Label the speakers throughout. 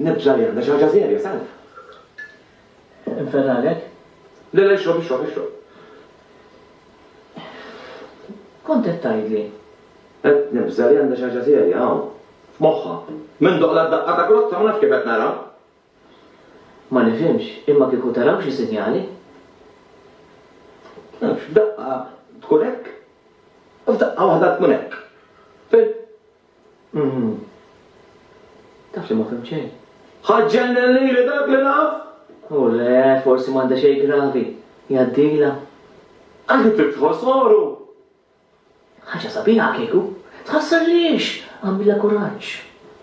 Speaker 1: Nibża' li għandha xi ħaġa serja, salv. Inferralek?
Speaker 2: Le, le, ixrob,
Speaker 1: ixrob, ixrob.
Speaker 2: Kont qed tgħidli? Qed nibża'
Speaker 1: li għandha xi ħaġa serja hawn, f'moħħha. Minn doqla d-daqqa ta' grozza ma nafx kif qed nara.
Speaker 2: Ma nifhimx, imma kieku taraw xi sinjali?
Speaker 1: Nafx, f'daqqa tkun hekk, u f'daqqa waħda tkun hekk. Fil, Umm.
Speaker 2: Taf li ma fhimt xejn. Ħa ġġennen
Speaker 1: lili dak li naf! Hu le,
Speaker 2: forsi m'għandha xejn gravi. Jgħaddilha. Anki
Speaker 1: trid tħoss għoru!
Speaker 2: Ħaġa sabiħa kieku. Tħassar għaliex? Agħmilha kuraġġ.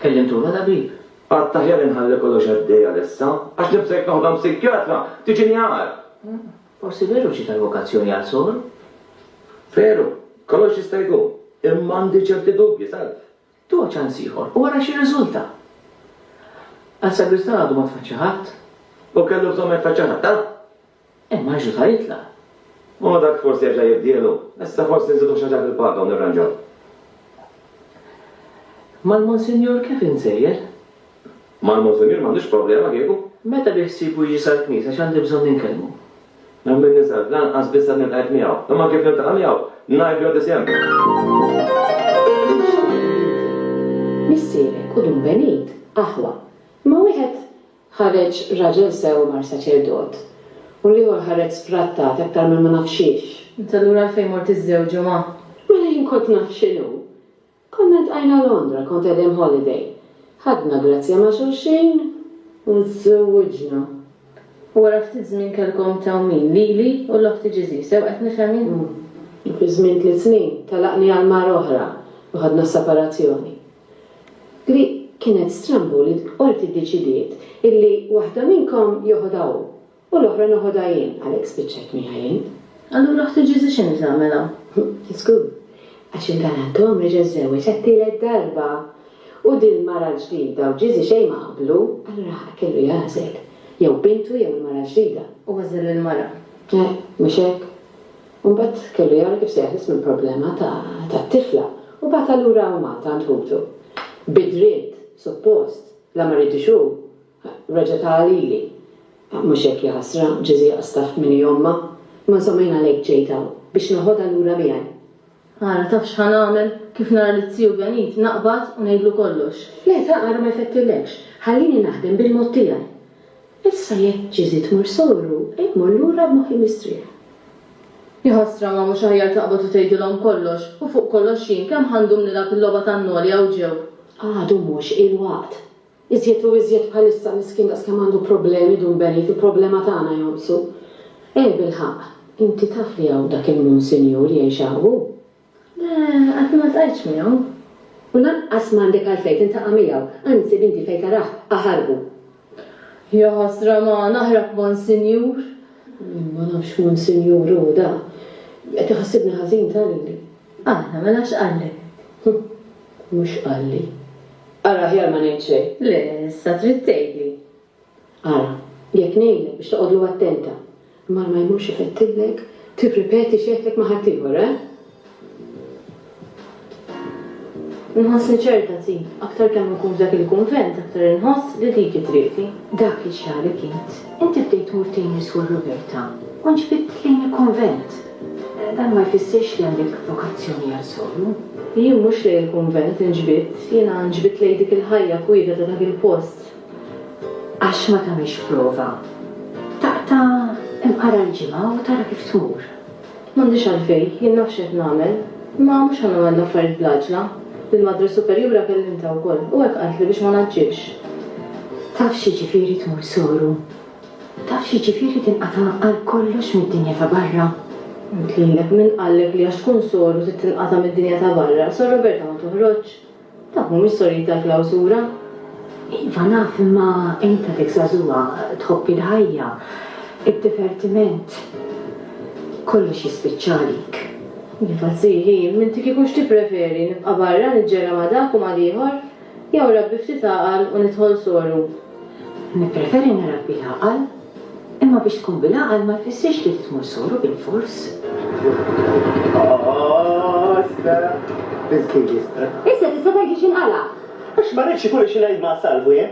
Speaker 2: Kellimtu tat-tabib? Għad aħjar inħalli
Speaker 1: kollox għaddej għalissa, għax nibża' jekk noħodha msikjatra, tiġini agħar. Forsi
Speaker 2: veru ġiet għall-vokazzjoni għal Sor? Veru,
Speaker 1: kollox jista' jkun, imma għandi ċerti dubji, salv. Tuha ċans
Speaker 2: ieħor u ara x'irriżulta. Għas-sagristan għadu ma tfaċċa ħadd. Hu kellu bżonn
Speaker 1: ma jitfaċċa ħadd, ha? Imma Ġesù
Speaker 2: sar jitlaq. U dak
Speaker 1: forsi jerġa' jibdielu. Issa forsi nżidu xi ħaġa fil-paga u nirranġaw.
Speaker 2: Mal-Monsinjur kif insejjer? Mal-Monsinjur
Speaker 1: m'għandux problema kieku. Meta biħsiebu
Speaker 2: jiġi sal-knisja x'għandi bżonn inkellmu? Mela min ninsab,
Speaker 1: lanqas biss għad niltqajt miegħu. Imma kif niltaqa' miegħu, ngħidlu għad isem. X'għamilt?
Speaker 3: Missierek u Dun Benit, aħwa. Imma wieħed ħareġ raġel sew u mar saċerdot. U l-ieħor ħareġ sfrattat aktar minn ma naf xiex. Int allura għalfejn
Speaker 4: mort iżżewġu ma'. Mela jien kont
Speaker 3: naf x'inhu. Konna ltqajna Londra, kont qegħdin holiday. Ħadna grazzja ma' xulxin u żżewwiġna. U
Speaker 4: wara ftit żmien kellkom tgħawmin, lili u l-oħt tiġiżi, sew qed nifhem jien? Umm. U fi żmien
Speaker 3: tliet snin telaqni għal mara oħra u ħadna separazzjoni. Li kienet strambu li l-Qorti ddeċidiet illi waħda minnkom joħodha hu U l-oħra noħodha jien, għalhekk spiċċajt miegħi jien. Allura ħti Ġesù
Speaker 4: x'inhi tagħmel hawn? Żgur,
Speaker 3: għax il-galantom reġa' żżewweġ għat-tielet darba. U dil-mara l-ġdida u Ġesù xejn ma qablu, allura ħa kellu jagħżel, jew bintu jew il-mara l-ġdida. U għażel il-mara.
Speaker 4: Le, mhux hekk.
Speaker 3: U mbagħad kellu jara kif se jeħles mill-problema tat-tifla, u bagħatha lura għal Malta għand ħutu. Bidriet, suppost, la ma ridux hu. Reġa' ta' lili. Mhux hekk, ja ħasra, ġiżija qasdaft min hi ommha. Imma insomma jien għalhekk ġejt hawn, biex neħodha lura miegħi. Ara, taf
Speaker 4: x'ħa nagħmel? Kif nara liz-ziju Ganid, naqbad u ngħidlu kollox. Le, ta' ara ma
Speaker 3: jfettilekx. Ħallini naħdem bil-mod tiegħi. Issa jekk ġiżi tmur sogħlu, hekk mor lura b'moħħi mistrieħ. Ja
Speaker 4: ħasra, ma mhux aħjar taqbad u tgħidilhom kollox? U fuq kollox jien, kemm ħa ndum nilgħab il-logħba tan-noli hawn ġew? Għadu mhux
Speaker 3: il-waqt. Iżjed u iżjed bħalissa miskin daqskemm għandu problemi Dun Benit il-problema tagħna jonqsu. Eh bilħaqq, inti taf li hawn dak il-Munsinjur jgħix hawn hu? Le,
Speaker 4: għadni ma ltqajtx miegħu. U lanqas
Speaker 3: m'għandek għalfejn tintaqa' miegħu, anzi b'inti fejn tarah aħarbu.
Speaker 4: Jaħasra ma naħrab Monsinjur. Jien ma
Speaker 3: nafx x'Munsinjur hu da. Qed iħassibni ħażin ta' lili. Aħna, mela
Speaker 4: x'qallek? Huh! Mhux
Speaker 3: qalli. Ara aħjar ma ngħid xejn. Le, issa trid
Speaker 4: tgħidli. Ara,
Speaker 3: jekk ngħidlek biex toqgħodlu attenta, mar ma jmurx ifettillek tirripeti xi għedtlek ma' ħaddieħor, eh?
Speaker 4: Nħossni ċerta, Ti. Aktar kemm inkun f'dak il-kunvent, aktar inħoss li dik hi triqti. Dak li ġralek
Speaker 3: int, inti bdejt tmur tgħin niswa Roberta u nġbidt lejn il-kunvent. Dan ma jfissirx li għandek vokazzjoni għal sogru. Jien mhux lejn
Speaker 4: il-kunvent inġbidt, jiena nġbidt lejn dik il-ħajja kwieta ta' dak il-post. Għax
Speaker 3: ma tagħmilx prova. Taqta' imqara l-ġimgħa u tara kif tmur. M'għandix
Speaker 4: għalfejn, jien naf x'qed nagħmel. Imma mhux għandna nagħmlu l-affarijiet bl-għaġla. Lill-Madre Superjura kellimtha wkoll u hekk qaltli biex ma ngħaġġilx. Taf
Speaker 3: x'jiġifieri tmur sogru? Taf x'jiġifieri tinqata' għal kollox mid-dinja ta' barra? Għidt lilek,
Speaker 4: min qallek li għax tkun sor u trid tinqata' mid-dinja ta' barra, Sor Roberta ma toħroġx? Dawk mhumiex sorijiet tal-klawsura? Iva
Speaker 3: naf imma int għadek żagħżugħa, tħobb il-ħajja, id-divertiment. Kollox jispiċċa għalik. Iva,
Speaker 4: Zii, ħin, m'inti kieku x'tippreferi, nibqa' barra niġġera ma' dak u mal-ieħor? Jew irabbi ftit għaqal u nidħol soru? Nippreferi
Speaker 3: nirabbi l-għaqal. Imma biex tkun bil-għaqal ma jfissirx li tidħol soru bilfors. Issa tista'
Speaker 5: tgħid li xinqala'.
Speaker 3: Għax
Speaker 5: ma rridx ikun li xi ngħid ma'
Speaker 3: Salvu
Speaker 5: jien.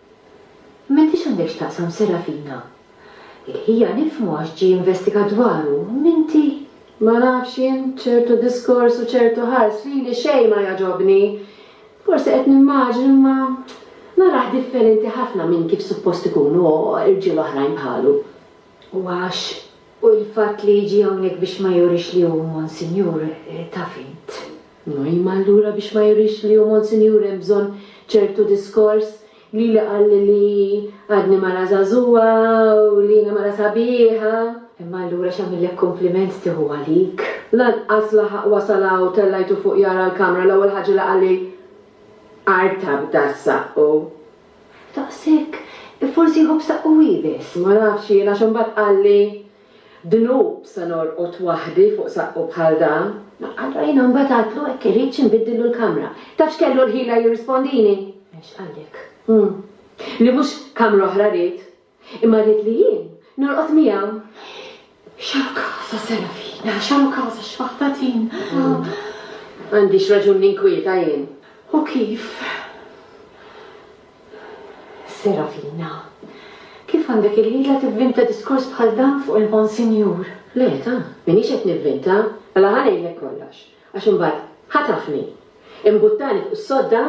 Speaker 3: M'intix
Speaker 4: għandek x'taqsam Serafina. Il-ħija nifhmu għax ġie investigat dwaru, m'inti. Ma nafx
Speaker 3: jien, ċertu diskors u ċertu ħars lili xejn ma jagħġobni. Forsi qed nimmaġni imma narah differenti ħafna minn kif suppost ikunu rġiel oħrajn bħalu. U għax
Speaker 4: hu l-fatt li jiġi hawnhekk biex ma jurix li hu Monsinjur, taf int. Noima
Speaker 3: allura biex ma jurix li hu Monsinjur hemm bżonn ċertu diskors, lili qalli li għadni mara żagħżugħa u li jiena mara sabiħa. Imma allura
Speaker 4: x'għamillek kumpliment tieħu għalik? Lanqas laħaq
Speaker 3: wasal hawn tellajtu fuq jara l-kamra l-ewwel ħaġa li qalli artab das saqqu.
Speaker 4: Daqshekk? Forsi jħobb saqqu hi biss, ma nafx jien għax
Speaker 3: imbagħad qalli Dnub sa norqod waħdi fuq saqqu bħal dan! Allura jiena mbagħad
Speaker 4: għidtlu hekk irridx inbiddillu l-kamra. Taf x'kellu l-ħila
Speaker 3: jirrispondini? Għax qalek.
Speaker 4: Hm.
Speaker 3: Li mhux kamra oħra ried, imma ried li jien norqod miegħu. X'hawn
Speaker 4: casa Serafina, x'hawn casa xfaħtatin.
Speaker 3: M'għandix raġun ninkwieta jien. U kif?
Speaker 4: Serafina, Kif għandek il-ħila tivvinta diskors bħal dan fuq il-Monsinjur? Le, ta,
Speaker 3: m'iniex qed nivvinta. Mela ħa ngħidlek kollox, għax imbagħad ħatafni. Imbuttani fuq is-sodda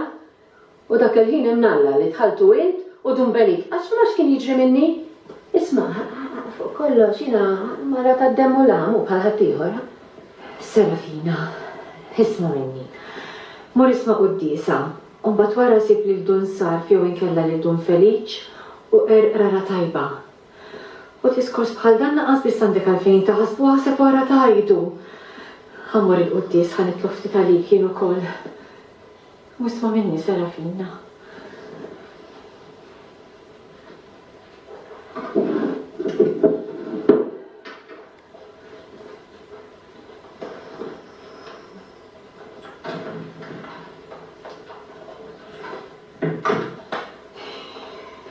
Speaker 3: u dak il-ħin hemm Alla li dħaltu int u Dun Benit. Għax ma nafx x'kien jiġri minni. Isma', fuq kollox jiena mara tad-demm u l-għam u bħal ħaddieħor. Serafina,
Speaker 4: Isma' minni. Mur isma' quddiesa. U mbagħad wara ssib lil Dun Sarf jew inkella lil Dun Feliċ u qerqrara tajba. U diskors bħal dan lanqas biss għandek għalfejn taħsbu u aħseb wara tgħidu. Ħa mmur il-quddies, ħa nitlob ftit għalik jien ukoll. U isma' minni, Serafina.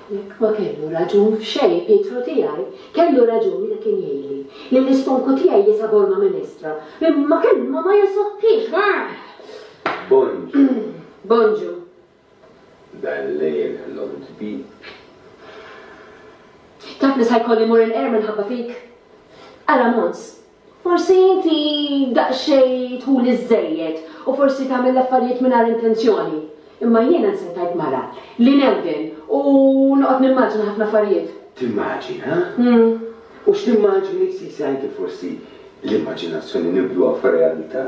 Speaker 3: Jekk ma kellu raġun f'xejn Pietru tiegħi, kellu raġun meta kien jgħidli li l-istonku tiegħi jisa' borma minn estra. Ma kellu ma ma jasottix. Bonġu. Bonġu.
Speaker 1: Dan lejl ħlomt bik.
Speaker 3: Taf li sa jkolli mmur il-qerra minħabba fik? Qala Mons. Forsi inti daqsxejn tħuli żżejjed u forsi tagħmel l-affarijiet mingħajr intenzjoni. Imma jiena nsettajt mara li nemmen u noqgħod nimmaġina ħafna affarijiet. Timmaġina?
Speaker 1: U x'timmaġini sisi anki forsi l-immaġinazzjoni nibdluha f'realita'?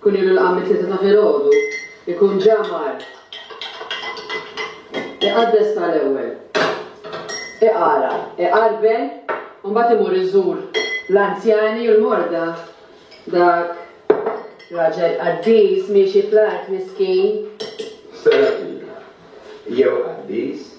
Speaker 3: Kun ilu laqam mit-tlieta ta' filgħodu, ikun ġa mar iqaddes tal-ewwel, iqara, iqarbel u mbagħad imur iżur l-anzjani u l-morda, dak raġel qaddis miexi fl-art miskin. Sara
Speaker 1: Pina, jew qaddis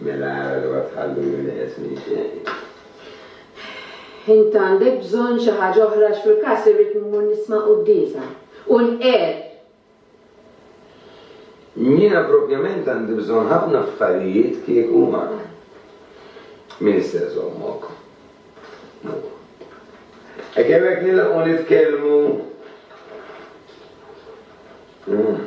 Speaker 1: Mela ara li ma tħalluni neqes minn xejn. Int
Speaker 3: għandek bżonn xi ħaġa oħra għax fil-każ irrid mmur nisma' quddiesa u nqerr.
Speaker 1: Jiena propjament għandi bżonn ħafna affarijiet kieku ma min issa jżommok. Mur. Hekk jew hekk nilħqu nitkellmu. Mm.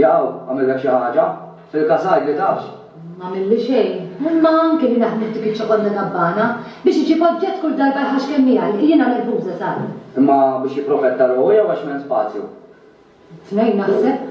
Speaker 5: Jaqaw,
Speaker 6: għamillek xi ħaġa? Fil-każ għid li tafx. M'għamilli xejn.
Speaker 5: Imma anke li naħdmu f'dik iċ-ċokonda gabbana, biex iġib oġġett kull darba jħaxx kemm jgħalli, jiena nervuża sal. Imma biex
Speaker 6: jipprofetta ruħu jew għax m'hemm spazju? It-tnejn
Speaker 5: naħseb.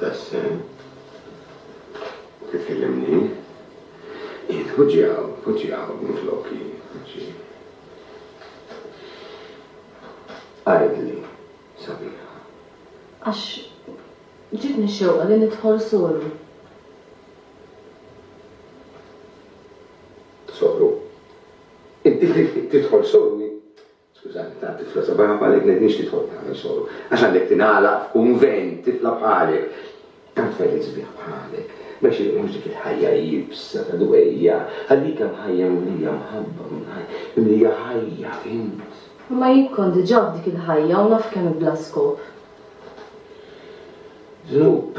Speaker 1: Tassew. Titkellimni? Int poġġi hawn, poġġi hawn minfloki, poġġi. Għidli, sabiħa. Għax
Speaker 2: ġietni xewqa li nidħol solu.
Speaker 1: Solu? Inti tidħol solu? Skużani, tant tifla sabiħa bħalek ngħidniex tidħol tagħmel soru, għax għandek tingħalaq f'kunvent, tifla bħalek, tant tfajli sbieħ bħalek, ma jxirqilhomx dik il-ħajja iebsa ta' dwejjaq, għal dik hemm ħajja mimlija mħabba, mimlija ħajja, fhimt? Imma jien kont
Speaker 2: diġà f'dik il-ħajja u naf kemm hi bla skop.
Speaker 1: Dnub.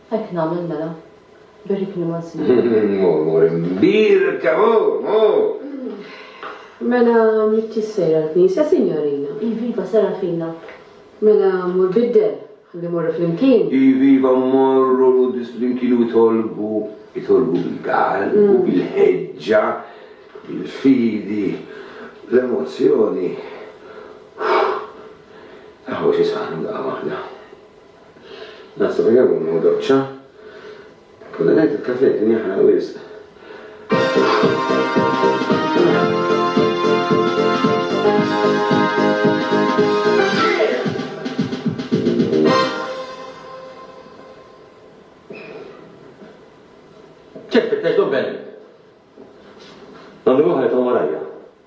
Speaker 2: Hekk nagħmel mela. Birrikni Monsi. Mur, mur, imbierka,
Speaker 1: mur, mur!
Speaker 3: Mela m'intix sejra l-knisja, sinjorina? Iviva, sara fina.
Speaker 2: Mela
Speaker 3: mur biddel, ħalli mmorru flimkien. Iviva mmorru
Speaker 1: l-quddies flimkien u itolbu, itolbu bil-galb u bil-ħeġġa, bil-fidi, bl-emozzjoni. Aħwa xi saħħna daqqa waħda. Nasa u jawwam u doċċa. Konna ngħid il-kafè kien jaħraq wisq.
Speaker 7: Ċek tfittex dobbelli.
Speaker 8: Għandu wieħed hu warajja.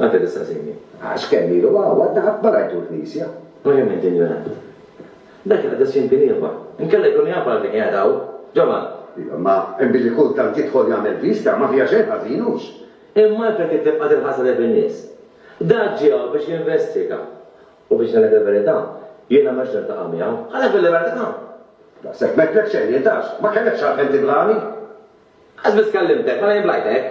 Speaker 8: Għadha lista' żejni. Għax kemm ilu
Speaker 9: hawn għadna qatt ma rajtu l-Knisja. Verament injorant.
Speaker 8: Dak li qadas jien kien ieħor. Inkella jkun jaf għalfejn qiegħed hawn. Ġovan. Iva,
Speaker 9: imma billi kultant jidħol jagħmel viżta, ma fiha xejn ħażin, hux? Imma għalfejn trid
Speaker 7: tibqa' tinħasadet bin-nies? Dak ġie hawn biex jinvestiga. U biex ngħidlek il-verità, jiena m'għedtx niltaqa' miegħu. Għalhekk bil-libertà. Daqshekk
Speaker 9: m'għedtlek xejn jien, tafx. Ma kellekx għalfejn tiblagħni. Qas biss
Speaker 7: kellimtek, mela jien blajtek?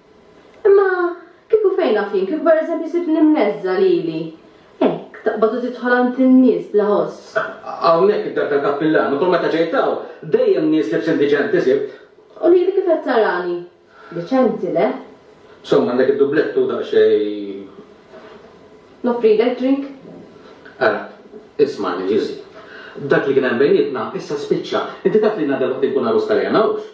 Speaker 7: Imma
Speaker 2: kieku fejn naf jien, kieku pereżempju sibtni mneżża lili, hekk, taqbad u tidħol għand in-nies bla ħoss. Hawnhekk id-dar
Speaker 7: tal-kappillan, u kull meta ġejt hawn, dejjem nies libsin diċenti sibt. U lili kif qed
Speaker 2: tarani? Diċenti, le? Insomma, għandek
Speaker 7: id-dublett u daqsxejn.
Speaker 2: Noffrilek drink? Ara,
Speaker 7: ismagħni, Ġiżi. Dak li kien hemm bejnietna, issa spiċċa. Inti taf li ngħadha l-oħt inkun għarus tal-għena, hux?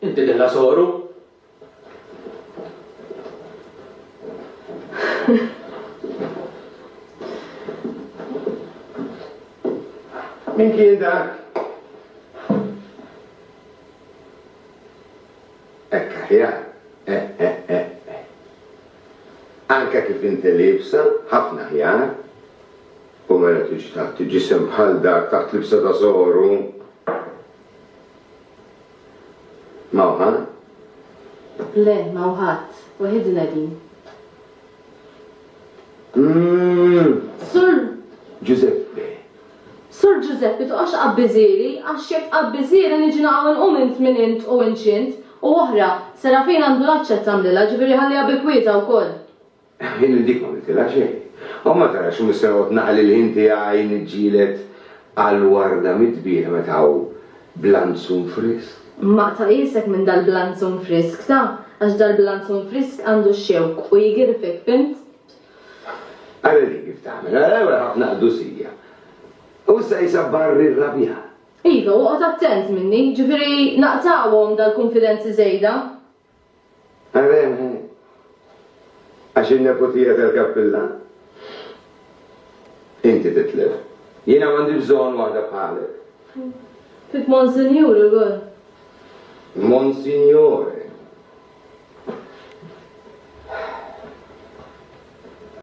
Speaker 7: Inti dilla soru?
Speaker 1: Min kien dak? Hekk aħjar. Eh, eh, eh, eh. Anke kif inti libsa, ħafna aħjar. U mela tixtaq tiġisem bħal dak taħt libsa ta' soru. M'hawn ħadd?
Speaker 2: Le, m'hawn ħadd. Waħidna din. Umm! Sur.
Speaker 1: Ġużeppi.
Speaker 2: Sur Ġużeppi, toqgħodx tqabbi żieri, għax jekk tqabbi żieri niġi naqgħu nqum int minn int u inċint. U oħra, Serafin għandu l-għatx qed tagħmlilha, ġifieri ħalliha bi kwietha wkoll. Ħin li dik
Speaker 1: ma għamiltilha xejn. U ma tarax xi mister noqgħod naħli l-ħin tiegħi niġġieled għal warda mit-tbieħ meta hawn blanzun frisk? Ma tqajjisek
Speaker 2: minn dal-blanzun frisk ta', għax dal-blanzun frisk għandu x-xewk u jgirfek, fhimt?
Speaker 1: Ara din kif tagħmel, ara wara ħafna qdusija. U issa qisha barri rrabjat. Iva, u oqgħod
Speaker 2: attent minni, ġifieri naqtgħuhom dal-kunfidenzi żejda.
Speaker 1: Għalhekk, għax in-neputija tal-kappillan, inti titlef. Jiena m'għandi bżonn waħda bħalek. Fik
Speaker 2: Monsinjur ukoll. Monsignore.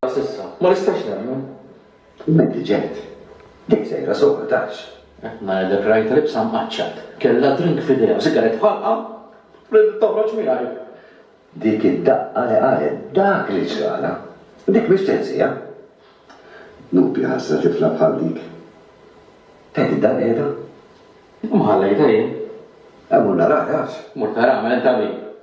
Speaker 7: Għasissa, ma nistax nemmen. U inti
Speaker 9: ġejt. Dik sejra sewwa tgħax. Mela dik rajtha
Speaker 7: libsa mqaċċat. Kellha drink f'idejha u sigaret f'ħalqha u ridet toħroġ miegħi. Dik
Speaker 9: id-daqqa li qalet dak li ġralha. Dik mhix teżżija. Dnubi ħażna tifla bħal dik. Tgħid id-dar qiegħda? Imma
Speaker 7: ħallejtha jien. Mur naraha
Speaker 9: tgħax. Mur taraha, mela inta
Speaker 7: min?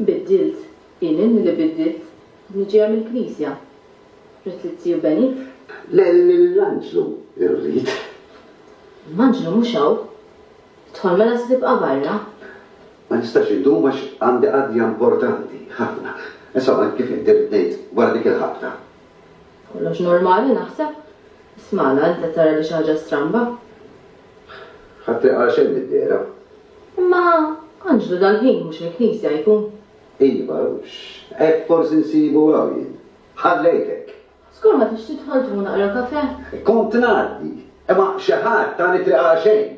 Speaker 1: Biddilt,
Speaker 2: jien inni li biddilt, inni ġejja mill-Knisja. Ridt li t-Tiju Ben jifr. Le, lill-Anġlu
Speaker 1: rrid.
Speaker 2: L-Anġlu mhux hawn. Idħol mela se tibqa' barra. Ma nistax
Speaker 9: indum għax għandi qadja importanti ħafna. Insomma, kif inti rrid ngħid, wara dik il-ħabta. Kollox
Speaker 2: normali, naħseb. Isma' la, inti qed tara li xi ħaġa stramba?
Speaker 1: Ħadd ma jqara
Speaker 2: xejn mid-dehra. Imma
Speaker 1: Anġlu dal-ħin
Speaker 2: mhux il-Knisja
Speaker 1: jkun?
Speaker 9: Iva, x'hekk forsi nsibu hawn jien. Ħallejt hekk. Żgur ma tridx
Speaker 2: tidħol tieħu naqra kafè? Kont ngħaddi,
Speaker 9: imma xi ħadd tani triq għal xejn.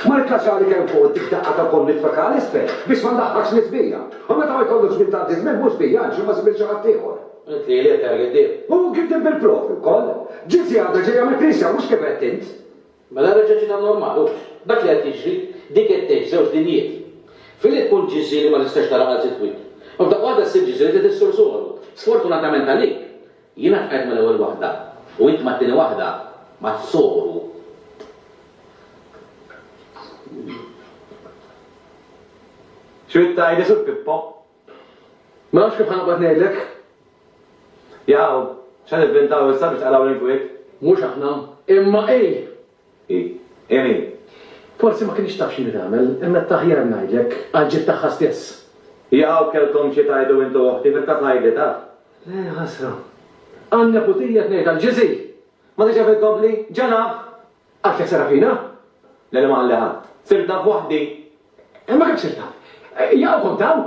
Speaker 9: Mal-kaxali kemm fuq dik daqqa ta' ponn mitfakka għal isfel biex ma ndaħħakx l-isbija. U meta ma jkollux żmien tgħaddi żmien mhux bija għax imma żmien xi ħaddieħor. Għidt li l-eter
Speaker 7: jidhib. U gidhib bil-profi
Speaker 9: wkoll. Ġiet sigħat reġa' jagħmel knisja mhux kif għedt int. Mela reġa' ġiet
Speaker 7: għan-normal, hux? Dak li qed jiġri, din qed tgħix f'żewġ dinjiet. Filwħin tkun ġiżżi li ma tistax tara għal sitt wid. U f'daqqa waħda ssir ġiżżi li trid issur sugoru. Sfortunatament għalik, jiena tqajt mal-ewwel waħda u int mat-tieni waħda, mas-sugoru. Xi trid
Speaker 8: tgħid li sur Pippo?
Speaker 1: Ma nafx kif ħa noqgħod ngħidlek.
Speaker 8: Jaqaw, x'ħa nivvintaw issa biex tqalgħu l-inkwiet? Mhux aħna,
Speaker 1: imma hi! Hi?
Speaker 8: Hi min?
Speaker 1: Forsi ma kinitx taf x'inhi tagħmel, imma qed taħjar ngħidlek, għall-ġid tagħha stess. Jaqaw, kellkom
Speaker 8: xi tgħidu int u oħti, fil-każ ngħidli, taf? Le, ħasra.
Speaker 1: Għan-neputija qed ngħidha l-ġizi! Ma tridx jaf
Speaker 8: inkompli? Ġa naf! Għax jekk seraq
Speaker 1: fina, l-għela ma qalli
Speaker 8: ħadd? Sirt naf waħdi. Imma kif
Speaker 1: sirt taf? Jaqaw kont hawn!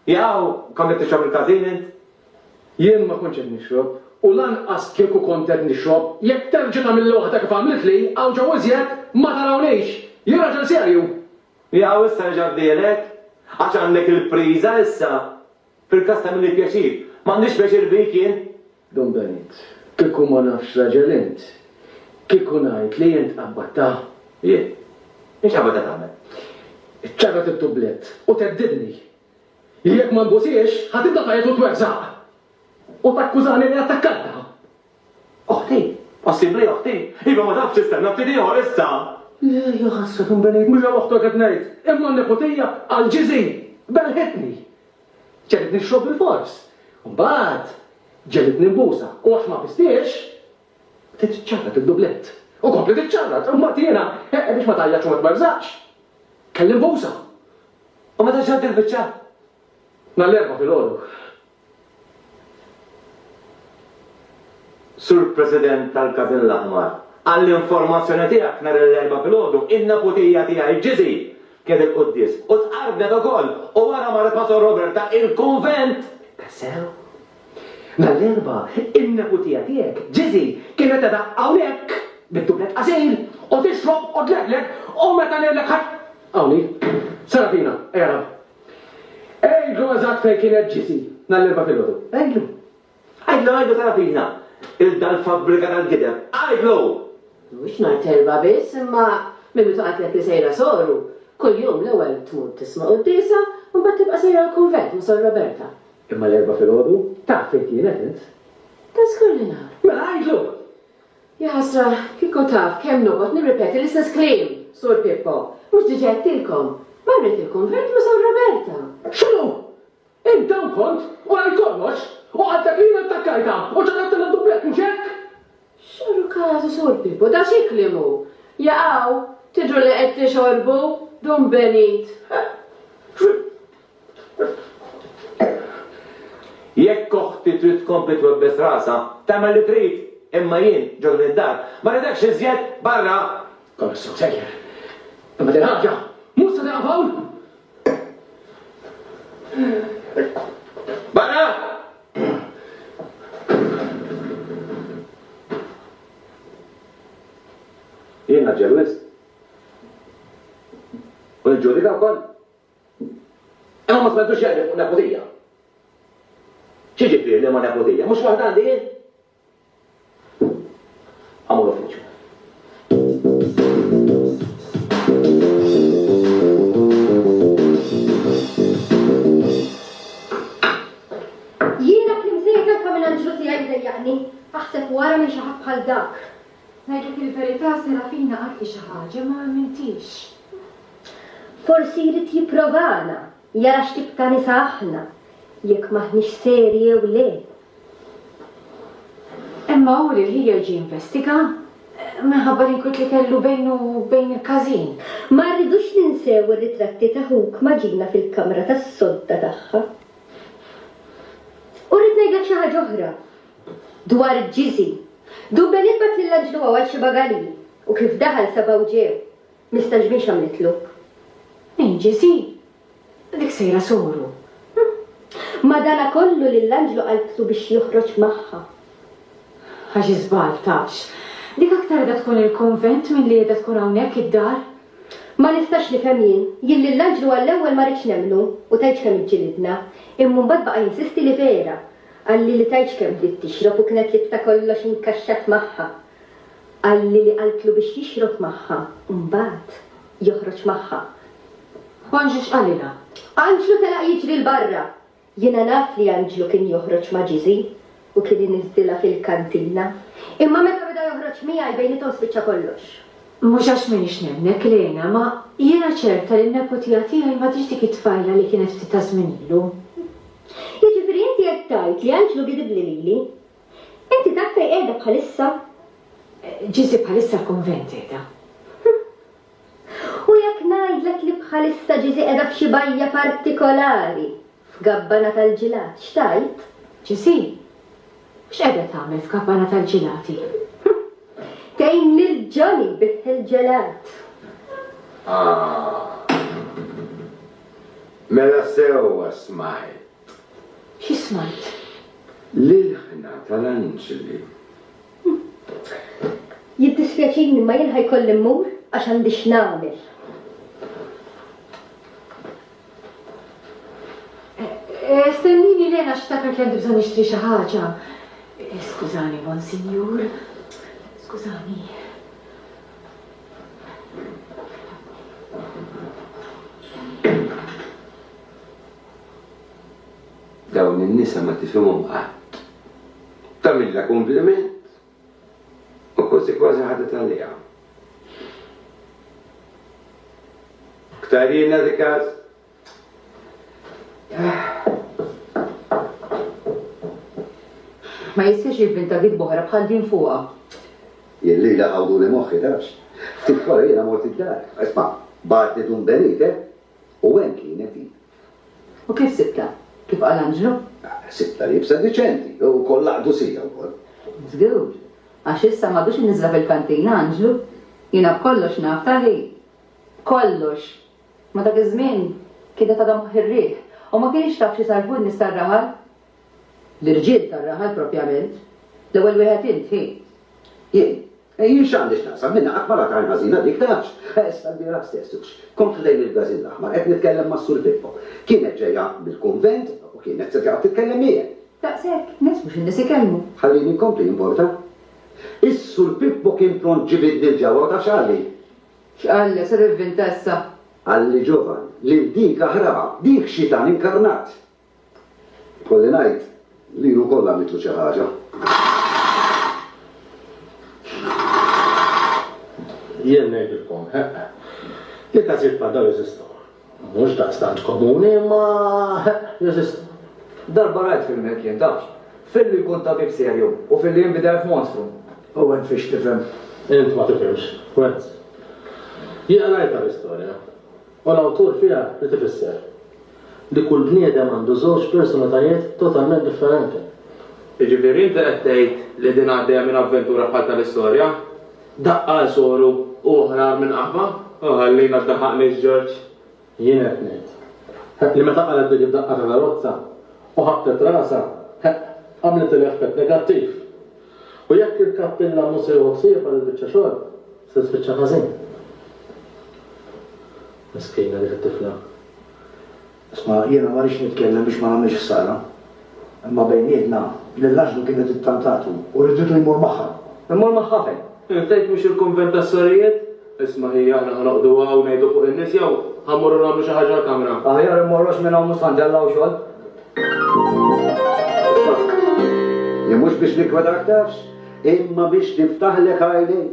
Speaker 1: Jaqaw
Speaker 8: kont qed tixrob il-każin int? Jien
Speaker 1: ma kontx qed nixrob, u lanqas kieku kont qed nixrob, jekk terġa' tagħmilli waħda kif għamiltli, hawn ġewwa iżjed, ma tarawniex! Jien raġel serju! Jaqaw issa
Speaker 8: reġa' fdiehlek? Għax għandek il-priża issa? Fil-każ ta' min hi pjaċir, m'għandix pjaċir bik jien? Don Benit,
Speaker 1: Kieku ma nafx raġel int, kieku ngħid li int qabbattha? Jien?
Speaker 8: Int x'qabbattha tagħmel? Ċarrat
Speaker 1: it-tublett u theddidni li jekk ma nbusiex, ħa tibda tgħajjat u tweżżaq u takkużani li attakkajtha! Oħti!
Speaker 8: Possibbli, oħti? Iva, ma tafx tistenna ftit ieħor issa? Le, jaħassrek
Speaker 1: imbelejt, mhux għal oħtok qed ngħid, imma għan-neputija, għal Ġiżi! Belħitni! Ġegħlet nixrob bilfors. U mbagħad, ġegħlitni nbusa, u għax ma bistiex, bdiet iċċarrat id-dublett. U kompliet iċċarrat, u mbagħad jiena, biex ma tgħajjatx u ma tmerżaqx, kelli nbusa. U meta
Speaker 8: ġrat il-biċċa? Nhar
Speaker 1: l-Erbgħa filgħodu.
Speaker 8: Sur President tal-Każin l-Aħmar, għall-informazzjoni tiegħek nhar il-Erbgħa filgħodu n-neputija tiegħi Jizzy kien il-quddies u tqarbnet ukoll u wara mar il-Pastor Roberta il-kunvent ta' sew.
Speaker 1: Nhar l-Erbgħa n-neputija tiegħek Jizzy kienet qiegħda hawnhekk bid-dublet qasil u tixrob u tlegleg u meta ngħidlek ħadd Hawn hi. Serafina, ejja nagħmlu. Għidlu eżatt fejn kien qed Ġesì nhar l-Erbgħa filgħodu. Għidlu. Għidlu, għidlu
Speaker 8: tara fina 'l dan fabbrika tal-gideb. Għidlu! Mhux nhar
Speaker 3: t-Erbgħa biss, imma minn meta qatlek li sejra Soru, kuljum l-ewwel tmur tisma' quddiesa u mbagħad tibqa' sejra l-kunvent ma' Sor Roberta. Imma l-Erbgħa filgħodu
Speaker 1: taf fejn kienet int? Ta' żgur li
Speaker 3: naf. Mela għidlu!
Speaker 1: Jaħasra,
Speaker 3: kieku taf kemm noqgħod nirripeti l-istess kliem, Sur Pippo! Mhux diġà għedtilkom? Marret il-kunvent ma' San Roberta! X'inhu?
Speaker 1: Inta u kont, u rajt kollox! U għal dak li jiena ttakkartha u ċaħħadtha mad-dublett, mhux hekk? X'għadu
Speaker 3: każu, Sur Pippo, da xi kliem hu? Jaqaw, tidhru li qed tixorbu, Dun Benit!
Speaker 8: Jekk oħti trid tkompli twebbes rasha, tagħmel li trid, imma jien, ġo din id-dar, ma rridekx iżjed barra! Kont sew sejjer,
Speaker 1: imma din ħaġa mhux se tieqaf hawn!
Speaker 8: Barra! Jien ngħaġġel wisq. U niġġudika wkoll. Imma ma smajtux jgħid li fuq nepotija. X'jiġifieri li ma nepotija? Mhux waħda għandi jien? Għamu l-uffiċċju.
Speaker 5: Jiena klim sejħ tanka mingħand Ġużi jgħid dejjaqni. Aħseb wara minn xi ħadd bħal dak. Ngħidlek
Speaker 4: il-verità, Serafina qatt hi xi ħaġa ma ammintiex.
Speaker 5: Forsi jrid jipprovana, jara x'tip ta' nisa aħna, jekk m'aħniex serji jew le.
Speaker 4: Imma hu lil ħieher ġie jinvestiga, minħabba l-inkwiet li kellu bejnu u bejn il-każin. Ma rridux
Speaker 10: ninsew ir-ritratti ta' ħuk ma' Gina fil-kamra tas-sodda tagħha. U rrid ngħidlek xi ħaġa oħra. Dwar Ġiżi, Du Beni bgħat lil anġlu għaw għal Xiba Galili, u kif daħal sabgħu ġew, mistaġbin x'għamlitlu. Min
Speaker 4: Ġiżi? Dik sejra soru.
Speaker 10: Madanakollu lill-anġlu qaltlu biex joħroġ magħha.
Speaker 4: Ħa xi żball, tafx, dik aktar qiegħda tkun il-kunvent milli qiegħda tkun hawnhekk id-dar. Ma nistax
Speaker 10: nifhem jien, jien lill-anġlu għall-ewwel ma ridtx nemmnu u tgħidx kemm iġġilidna, imma mbagħad baqa' jinsisti li vera, Qalli li tgħidx kemm bdiet tixrob u kienet li ta' kollox inkaxxat magħha. Qalli li qaltlu biex jixrob magħha u mbagħad joħroġ magħha. Anġlu
Speaker 4: x'qalilha? Anġlu telaq
Speaker 10: jiġri 'l barra. Jiena naf li Anġlu kien joħroġ ma' Ġiżi u kien iniżżilha fil-kantina. Imma meta beda joħroġ miegħi bejniethom spiċċa kollox. Mhux għax m'iniex
Speaker 4: nemmnek, Lena, ma jiena ċerta li n-neputija tiegħi m'għadhiex dik it-tfajla li kienet ftit taż-żmien ilu.
Speaker 10: Jiġifieri inti qed tgħid li anġlu vidibbli lili? Inti taf fejn qiegħda bħalissa?
Speaker 4: Ġiżi bħalissa f'kunvent qiegħda.
Speaker 10: U jekk ngħidlek li bħalissa Ġiżi qiegħda f'xi bajja partikolari, f'gabbana tal-ġilat, x'tgħid? Ġiżi?
Speaker 4: X'qiegħda tagħmel f'gabbana tal-ġilati?
Speaker 10: Tgħin lil Johnny jbigħ il-ġelat. Ah!
Speaker 1: Mela sewwa smajt. Xi
Speaker 4: smajt? L-ilħna
Speaker 1: tal-anġli.
Speaker 10: Jiddispjaċini imma jien ħa jkolli mmur għax għandi x'nagħmel.
Speaker 4: Stennini Lena għax ftakart li għandi bżonn nixtri xi ħaġa. Skużani, Monsinjur. Skużani.
Speaker 1: Dawn in-nisa ma tifhimhom qatt. Tagħmilha kumpliment u kważi kważi ħadet għaliha. Ktarina dik
Speaker 5: Ma jistħiex jivvinta gidba oħra bħal din fuqha. Jien
Speaker 9: lilha ħawduli moħħi, tafx. Ftit wara jiena mort id-dar. Isma', bagħatni Dun Benite u hemm kienet hi. U kif
Speaker 5: sibtha? Kif qal Anġlu? Sibtha liebsa
Speaker 9: diċenti u kollha qdusija wkoll. Żgur,
Speaker 5: għax issa m'għadux iniżżla fil-kantina Anġlu. Jiena b'kollox naf, tali? B'kollox! Ma dak iż-żmien kienet għadha moħħ ir-riħ u ma kinitx taf x'isarrfu n-nies tar-raħal. L-irġiel tar-raħal propjament. L-ewwel wieħed int, hi. Jien?
Speaker 9: Jien x'għandi x'naqsam minnha qatt ma rat għajn ħażina dik, tafx. Issa l-bieraħ stess, hux kont ħdejn il-Brażil l-Aħmar qed nitkellem mas-Sur Pippo. Kienet ġejja mill-kunvent u kienet se tiqgħod titkellem miegħi. Daqshekk nies
Speaker 5: mhux in-nies ikellmu. Ħallini nkompli, jimporta?
Speaker 9: Is-Sur Pippo kien pront ġibidni 'l ġewwa u taf x'qalli? X'qallha?
Speaker 5: Ser ivvinta issa? Qalli Ġovan,
Speaker 9: lil dik aħraha, dik Xitan inkarnat! Ikolli ngħid li hu wkoll għamiltlu xi ħaġa.
Speaker 7: Jien ngħidilkom, eħ, li każijiet bħal dawn jeżistu. Mhux daqstant komuni, imma jeżistu. Darba
Speaker 6: rajt film hekk jien, tafx? Film li jkun tabib serju u film li jinbidel f'monstru. Owen fiex tifhem? Int ma tifhimx,
Speaker 7: Wenz. Jien qrajtha l-istorja, u l-awtur fiha ried ifisser li kull bniedem għandu żewġ personalitajiet totalment differenti. Jiġifieri
Speaker 11: inti qed tgħid li din għaddejja minn avventura bħal tal-istorja? Daqqa għal soru u oħra minn qaħba. O ħalli ma ddaħħaqnix Ġorġ. Jien qed
Speaker 7: ngħid, ħa, li meta qalgħet dik id-daqqa ta' karozza u ħabbtet rasha, ħa, għamlet il-effett negattiv. U jekk il-kappillan mhu se jieħu ħsiebha dil-biċċa xogħol, se tispiċċa ħażin. Miskina dik it-tifla.
Speaker 8: Isma', jiena ma rridx nitkellem biex ma nagħmilx ħsara, imma bejnietna, lil Anġlu kienet ittantatu u riditu jmur magħha. Immur magħha
Speaker 6: fejn? Tgħid mhux il-kunvent
Speaker 11: tas-sorijiet? Isma' hi, aħna ħa noqogħdu hawn u ngħidu fuq in-nies jew ħa mmorru nagħmlu xi ħaġa l-kamra? Aħjar immorru għax minn hawn
Speaker 6: mhux ħa ntellgħu xogħol. Isma',
Speaker 9: jien mhux biex niggwedak tafx, imma biex niftaħlek għajnejk,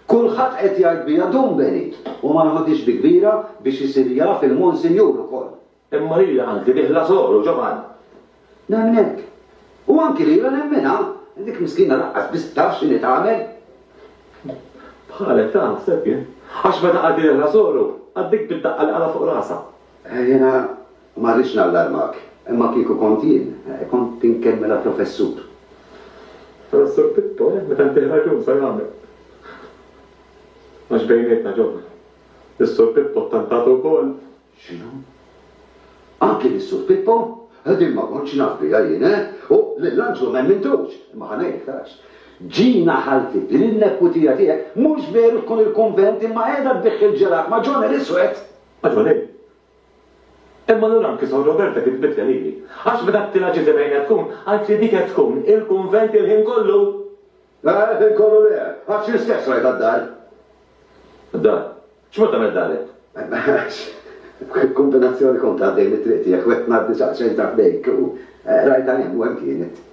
Speaker 9: Kulħadd qed jgħid biha dum Benit u ma nħodhiex bi kbira biex isir jaf il-Monsinjur ukoll. Imma lili qaltli
Speaker 8: bih Lażor u Ġovann. Nemnek.
Speaker 9: U anki lila nemminha. Dik miskina laqqas biss taf x'inhi tagħmel. Bħalek
Speaker 8: taħseb jien. Għax meta qaltli bih Lażor u, għaddejt bid-daqqa li qalha fuq rasha. Jiena
Speaker 9: Ma rridx nallarmak, imma kieku kont jien, kont tinkemmela professur.
Speaker 8: Professur Pippo, eh, meta ntih raġun sa jagħmel. Għax bejnietna, ġobna, lis-Sur Pippo ttantatu wkoll. X'inhu?
Speaker 9: Anki lis-Sur Pippo? Eh, din ma kontx naf biha jien, eh! U lil Anġlu m'emmintux! Imma ħa ngħidlek għax. Ġina ħalti, din in-neputija tiegħek, mhux veru tkun il-kunvent imma qiegħda tbigħ il-ġelat ma' John il-Iswed! Ma' John il.
Speaker 8: Imma allura anki Sor Roberta kitbitlha lili. Għax meta għedtilha Ġiżi fejn qed tkun, qaltli dik qed tkun il-kunvent il-ħin kollu! Le, il-ħin
Speaker 9: kollu le, għax jien stess rajtha d-dar. Id-dar?
Speaker 8: X'mod tagħmel d-dar int?
Speaker 9: B'kumbinazzjoni kont għaddej mit-triq tiegħek u qed ngħaddi saqsejt għal ħdejk u rajtha hemm u hemm kienet.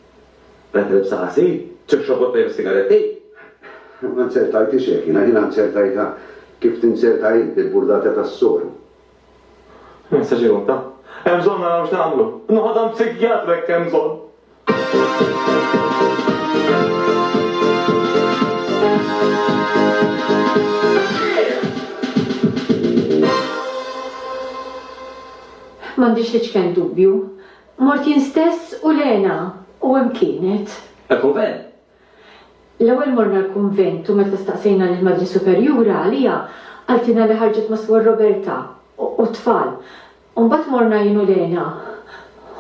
Speaker 9: Tant ilbsa
Speaker 8: qasir, tixrob u ttajjar sigaretti? Ma
Speaker 9: nzertajtix hekk jiena, jiena nzertajtha kif tinzerta int, bil-burdata tas-soru. Messaġġ
Speaker 8: irotta. Hemm bżonn naraw x'nagħmlu. Noħod għand psikjatru jekk hemm bżonn. M'għandix
Speaker 4: l-iċken dubbju. Mort jien stess u Lena, u hemm kienet. Il-kunvent. L-ewwel morna l-kunvent u meta staqsejna lill-Madre Superjura għaliha, qaltilna li ħarġet ma' Suor Roberta u t-tfal. U mbagħad morna jien u Lena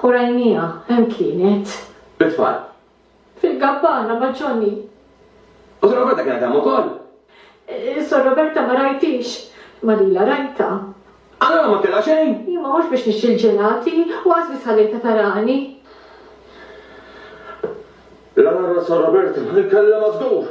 Speaker 4: u rajnieha, hemm kienet. Bit-tfal.
Speaker 8: Fil-gabbana
Speaker 4: ma' Johnny. U Sor
Speaker 8: Roberta kienet hemm ukoll? Sor
Speaker 4: Roberta ma rajthiex, ma lilha rajtha. Allura ma
Speaker 8: kellha xejn? Imma mhux biex nixtri
Speaker 4: l-ġelati, u qas biss ħallejtha tarani.
Speaker 8: L-għargħara ta' Sor Roberta ma kellha mażgur!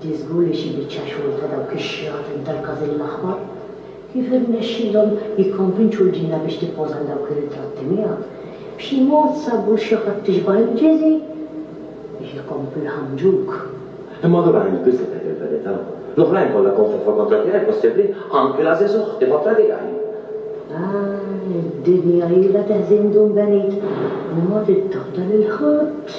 Speaker 10: Di żgur li xi biċċa xogħol ta' dawk ix-xjaten tal-każin l-aħmar. Kif irnexxielhom jikkonvinċu l-ġinna biex tippoża l-dawk ir-ritratti miegħek? B'xi mod sabu l-xi ħadd tixbah il-ġiżi? Biex ikomplu jħammġuk. Imma allura int
Speaker 8: biss li tgħid il-verità. L-oħrajn kollha konfefaw kontra tiegħi, possibbli? Anki l-għażiż uħti kontra tiegħi! Ah, id-dinja
Speaker 10: ilha teħżin dun benit. Imma trid taħdar lil ħadd.